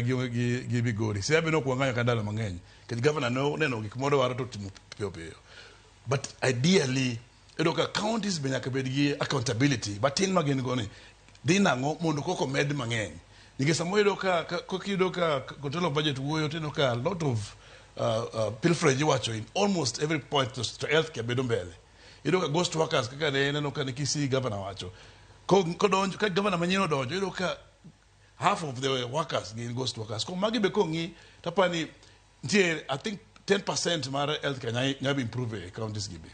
gionge gi gi Migori. Siaya be ne ok wang'ayo ka ndalo mang'eny nikech gavana ne oneno gik moro waro to timo piyo piyo. But ideally iyudo ka counties be nyaka bed gi accountability matin ma gin go ni dhi nang'o mondo koko med mang'eny. Nikech samoro iyudo ka kok iyudo ka kotelo budget wuoyo to iyudo ka a lot of uh, uh, pilferage iwacho in almost every point to, to healthcare bedo mbele. Iyudo ka ghost workers kaka ne neno ka ne Kisii gavana wacho. Kodonjo ka gavana manyien odonjo iyudo ka half of the workers gin ghost workers koro magi be kong'i tapa ni nitie i think 10 percent mar health care nyalo nyalo improve e counties gi be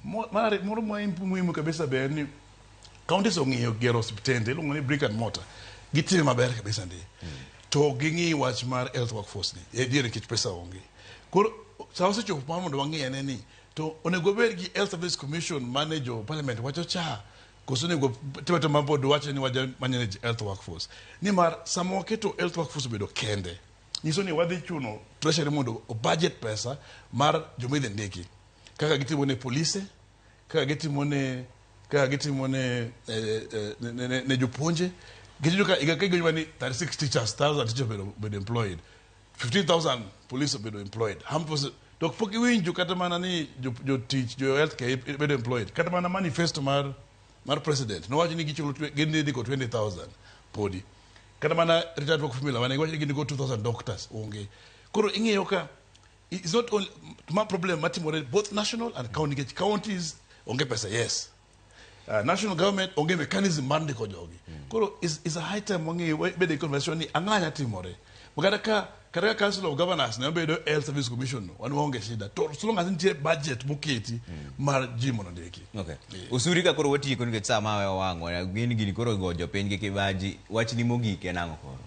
Mo- mar ari- moro ma imp- muhimu kabisa be en ni counties ong'iyo gero osiptende iluongo ni brick and mortar gitime maber kabisa ndi to ging'i wach mar health workforce ni e diere nikech pesa onge koro sa osechopo mar mondo wang'i ene ni to onego obed gi health service commission mane jo parliament wacho cha Koso onego tebete ma board wacho ni waja manage health workforce. Nimar sama waketo health workforce obedo kende, nyiso ni wadhi chuno treasury mondo o budget pesa mar joma idhi ndiki. Kaka gitimo ne polise, kaka gitimo ne kaka gitimo ne eh, eh, ne- ne- ne- ne jopuonje. Gitimo ka higa ka higa ni 36 teachers, 1000 teachers obedo obedo employed. 15,000 police obedo employed. Armed forces to pok iwinjo kata mana ni jo- jotich jo health care bedo employed kata mana manifesto mar mar president nowacho ni gichulo twe- gindiko 20000 podi kata mana retired work formula mane giwacho ni gindiko 2000 doctors onge koro ing'eyo ka it's not only ma problem matimore both national and county nikech counties onge pesa yes Uh, national government onge mechanism mar ndiko jogi mm. koro is, is a high time wangi bede conversation ni ang'a nya timore kata ka kata ka council of governors ne obedo health service commission wan waonge shida to so long as nitie budget moketi mm. mar ji mondo ndiki okay. yeah. usuri ka koro watieko nikech saa mawe owang'o gin gini koro go jopiny gi kibaji wachni mogik en ang'o koro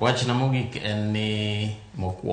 wachna mogik en ni mokwongo